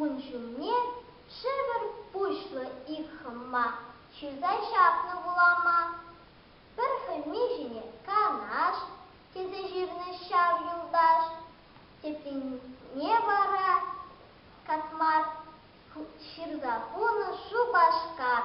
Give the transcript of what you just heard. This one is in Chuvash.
Ун ҫумне шӗвӗр пуҫлӑ ик хӑмма ҫырса ҫапнӑ вулама. Пӗр хӗнни ҫине Канаш тесе ҫырнӑ ҫав юлташ, теприне вара Катмар ҫырса хунӑ Шупашкар.